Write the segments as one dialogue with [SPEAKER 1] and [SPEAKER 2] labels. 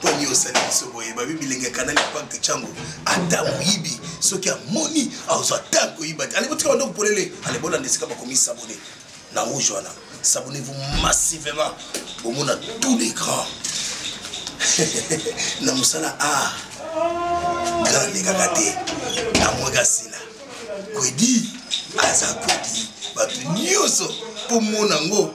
[SPEAKER 1] poni osali biso boye babi bilenge ya kanali pacte cango ata moyibi soki amoni azwa ta koyiba te alebotika bando kopolele alebolanda esika bakomi sabone na rouge wana sabonnez-vous massivement bomona tous les grands na mosala a grand elekaka te amwaka sila kwedi aza kwedi bato nyonso mpo mona yango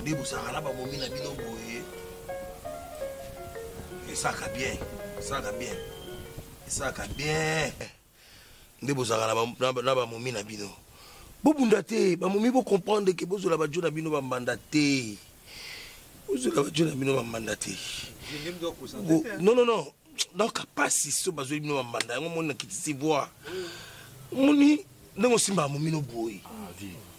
[SPEAKER 1] nde bozalaka na bamomi na bino boye esalaka bien esalaka bien esalaka bien nde bozalaka na bamomi na bino bobunda te bamomi bocomprendre ke bozwela bajo na bino bambanda te bozwela bajo na bino bambanda te non non non donc pasi so bazweli bino bambanda yango moni na kitisi voi moni ndenge osimba bamomi no boye ah,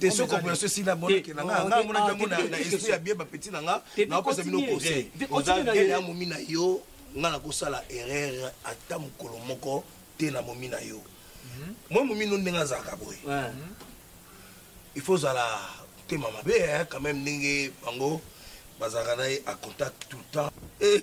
[SPEAKER 1] te soki operation esila bonakela nga nga amonaki yango na esprit ya bien bapeti na nga naopesa bino conseil oza gene ya momi na yo nga nakosala erreur ata mokolo moko te na momi na yo mwa mhm. momi no ndenge azalaka boye mhm. il faut ozala motema mabe quand même ndenge bango bazalaka na ye a contact tout le temps eh,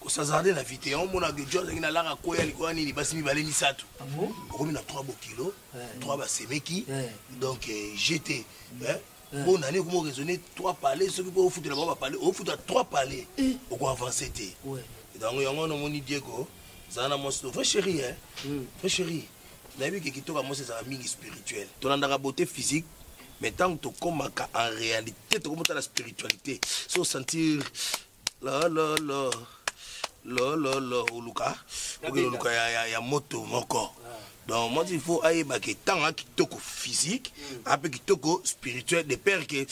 [SPEAKER 1] kosazarde na vite yango omona ke john azangi na laka koya likolo ya nini basi mibale misato ah okomi na 3 bokilo 3 basemeki donc eh, jete eh, mpo nani okoma oraisonne 3 palais soki mpo ofutela bango bapalais ofuta 3 palais eh. okoavance te donc yango wana omoni diego zala na mwasi vrai chéri e hmm. vrai chéri nayebi ke kitoko ya mwasi ezalaka mingi spirituel tolandaka beauté physique mais ntango tokomaka en réalité tokomotala spiritualité so sentir lololo lololo oluka oke oluka ya, ya, ya moto moko ah. donc moi il faut ayeba ke ntanga kitoko physique mm. ape kitoko spirituel de père ke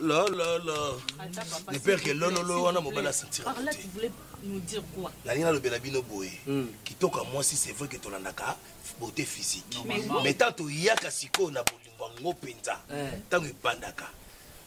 [SPEAKER 1] lololo de père ke lololo wana mobali asentira
[SPEAKER 2] nalingi nalobela bino
[SPEAKER 1] boye mm. kitoko ya mwasi c'est vrai ke tolandaka beauté physique mais ntango toyaka sikoyo na bolingo yango mpenza ntango eh. ebandaka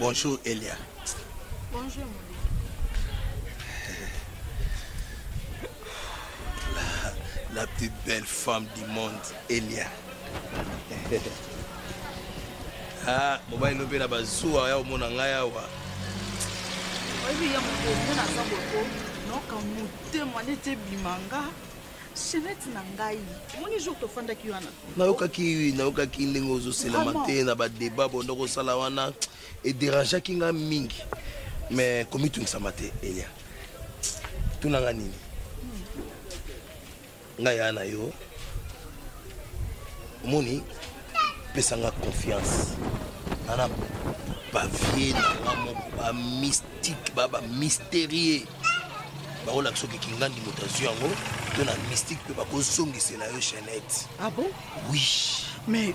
[SPEAKER 1] Bonjour Elia. Bonjour. La, la plus belle femme du monde, Elia. ah, mobali no mpe na bazuwa ya omona ngai awa
[SPEAKER 3] oyebi ya moto omona aza boto noka motema neti ebima nga chenete na ngai omoni jour tofandaki wana nayokaki nayokaki
[SPEAKER 1] ndenge ozoselama te na badeba bonda kosala wana ederangeaki ngai mingi mais komitungisama te elia tuna ngai nini ngai yaa na yo omoni pesa nga confiance ana bavie na nga moko bamystique ba bamystérieux bakolaka soki kingandi moto azwi yango to na mystique mpe bakozongisela yo chainette ah bon oui mais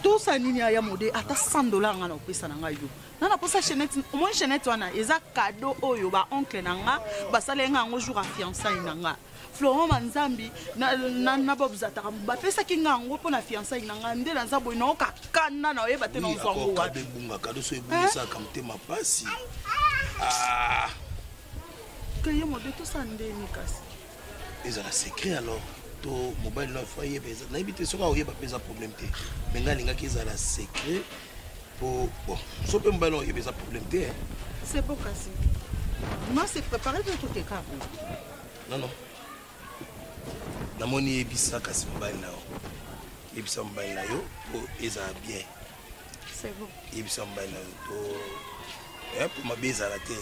[SPEAKER 3] tosa nini aya mode ata 100 dollar nga na kopesa na ngai yo nga naposa chainette omoi chainette wana eza cadeau oyo baoncle na nga basaleli nga yango jour ya fiançai na nga florent manzambi na bob zataka bapesaki nga yango mpo na fiançai na nga nde naza boye naoka kanda na oyeba te nazwa ngo wapi ebungaka doso
[SPEAKER 1] ebungisaka motema mpasi ah.
[SPEAKER 3] keye mode tosa ndeni kasi ezala
[SPEAKER 1] secret alors to mobali na fo ayeba eza nayebi te soki aoyeba mpe eza problème te me ngai alingaki ezala secret mpo bon so mpe mobali na oyeba eza problème te c'est bon kasi
[SPEAKER 3] moi c'est préparé mpe toteka Non, non.
[SPEAKER 1] namoni yebisa kasi mobali na yo yebisa mobali na yo mpo ezala bien
[SPEAKER 3] yebisa mobali na yo
[SPEAKER 1] to eh, mpo mabe ezala te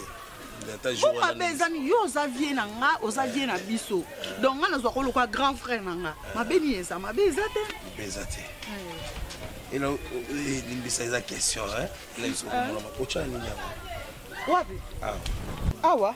[SPEAKER 1] mpo mabe
[SPEAKER 3] ezani yo oza vie na nga oza vie na biso donc nga nazwa koloka grand frère na nga mabe nini eza mabe eza te mabe eza te
[SPEAKER 1] ela limbisa eza question na biso komona makoca nini yango wapi
[SPEAKER 3] awa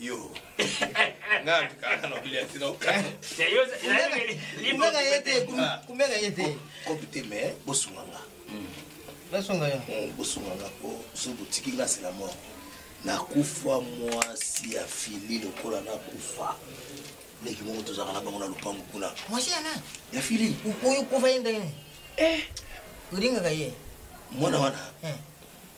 [SPEAKER 4] yo
[SPEAKER 1] nga kaka na olia tina okana
[SPEAKER 4] kumbeka ye te
[SPEAKER 5] kumbeka ye te kopi te mais
[SPEAKER 1] bosunga nga
[SPEAKER 5] nasunga yo bosunga nga po
[SPEAKER 1] so botiki nga sela moko nakufa mwasi ya fili lokola nakufa leki moko tozalaka na bango na lopango kuna mwasi yana ya
[SPEAKER 5] fili oyo
[SPEAKER 1] kufa ye ndenge
[SPEAKER 5] eh. olingaka ye mwana wana
[SPEAKER 1] eh.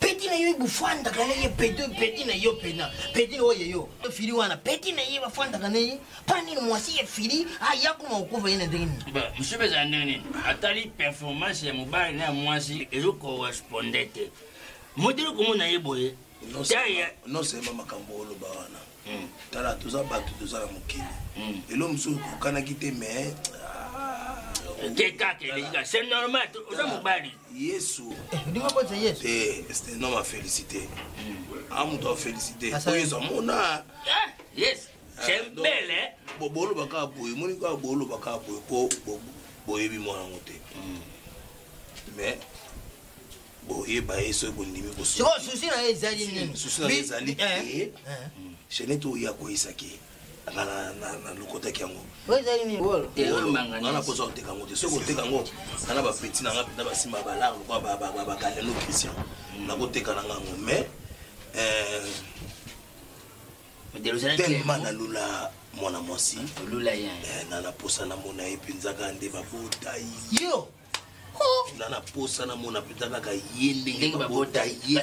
[SPEAKER 5] peti na yo ebofandaka na ye peti peti na yo pena peti na oyo yo fili wana peti na ye bafandaka na ye mpa nini mwasi ya fili aya kuma kokufa ye na ndenge nini mosusu ezala ndenge
[SPEAKER 4] nini atali performance ya mobali na ya mwasi ezokorresponde te modeli komona ye boye
[SPEAKER 1] nosemba makambo oloba wana mm. tala toza bato toza na mokili mm. elo mosusu okokanaki te mais kekaka
[SPEAKER 4] elekika c'est normal oza mobali yesu
[SPEAKER 5] c'est un homme à
[SPEAKER 1] féliciter a moto a féliciter po yesu amona yes
[SPEAKER 4] c'est ah, belle hein boloba kaka boye
[SPEAKER 1] moni kaka boloba kaka boye po boyebi mwana yango te mais boyeba ye soki bondimi kosoki susi na ye ezali nini susi
[SPEAKER 5] na ye
[SPEAKER 1] ezali te eh, eh. hmm.
[SPEAKER 5] chainete
[SPEAKER 1] oyo akweyisaki ye nga nalokotaki yango
[SPEAKER 5] nga nakozwa
[SPEAKER 1] koteka yango te soki koteka yango nga na bapeti na nga mpenza basimba balar lokola bagalelo christian hmm. nakoteka na nga yango mais eh, tellement nalula mwana mwasi eh,
[SPEAKER 5] na naposa namona
[SPEAKER 1] ye mpenzaka nde babota yo
[SPEAKER 5] na
[SPEAKER 1] naposa namona mpenza kaka ye ndenge babota ye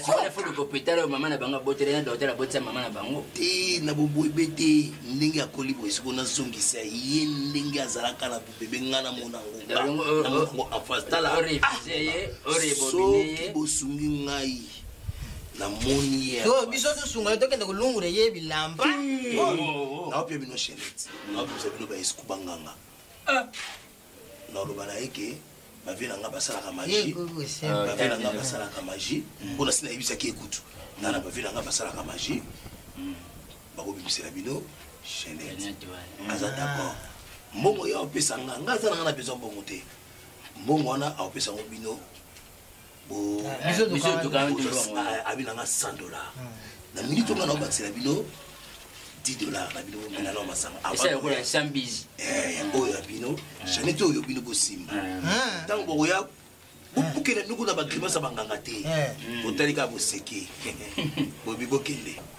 [SPEAKER 5] kopetala oyo mama na bango abotela na dokter abotisa mama na bango te na boboyebe
[SPEAKER 1] te ndenge akoli boye soko nazongisa ye ndenge azalaka na bobebe ngai namona yango enfance talasoki
[SPEAKER 5] bosungi ngai
[SPEAKER 1] namoni ye biso tosunga
[SPEAKER 5] tokende kolungula ye bilamba
[SPEAKER 1] naopia bino chenete naopesa bino baesku banganga ah. naloba na ye ke bavie na ngai basalaka magie bavie na ngai basalaka magie mpo mm. na si nayebisaki ye kutu nga na bavie na ngai basalaka magie mm. bakobimisela bino chainete aza ah. d'accord mbongo ye aopesa nga nga aza na nga na besoin mbongo te mbongo wana aopesa ngo bino abi nanga 100 dollar na minute onga naobakisela bino 10 dollar na bino omela nao masanga yango oyo ya bino janete oyo bino bosimba ntango bokoya bokenda noko na bagrimasa banganga te botali kaka boseki bobi bokende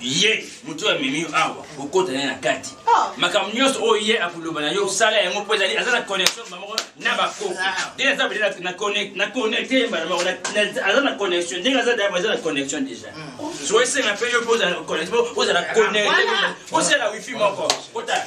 [SPEAKER 4] ye moto oyo amemi yo awa okota naye na kati ah. makambo nyonso oyo ye akoloba na yo osala yango mpo ezali aza na connexion bamoko na bakoko ah. de aza bele na connecte ye mbala moko aza na connexion ndenge aza dayaba aza na connexion déjà hmm. so esenga mpe yo mpo ozala connecte mpo ozala connecte osala wifi moko kota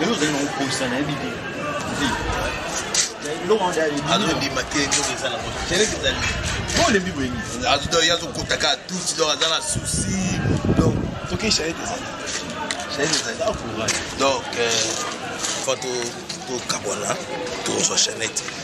[SPEAKER 4] lelo ozali
[SPEAKER 1] na kokosa nayebi te azondima te nzoto eza na moto keleke ezali olembi boyeni ye azokota kaka tuti donc aza na souci donc toke chaete ezali chaete ezali donc fo tokabwana tozwa chainete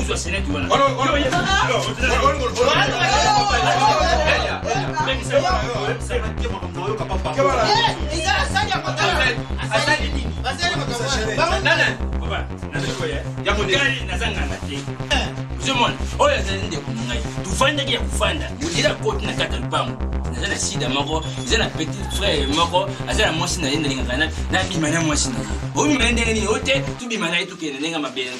[SPEAKER 4] Uzwa seneti wana. Olo, olo, olo, ozomona oyo azali ndeko na ngai tofandaki ya kofanda modela koti na kati ya lupango naza na sida moko eza na petit frère moko aza na mwasi na ye nalingaka nabima na mwasi na ye obima ye ndenge nini o te tobima na ye tokende ndenge mabele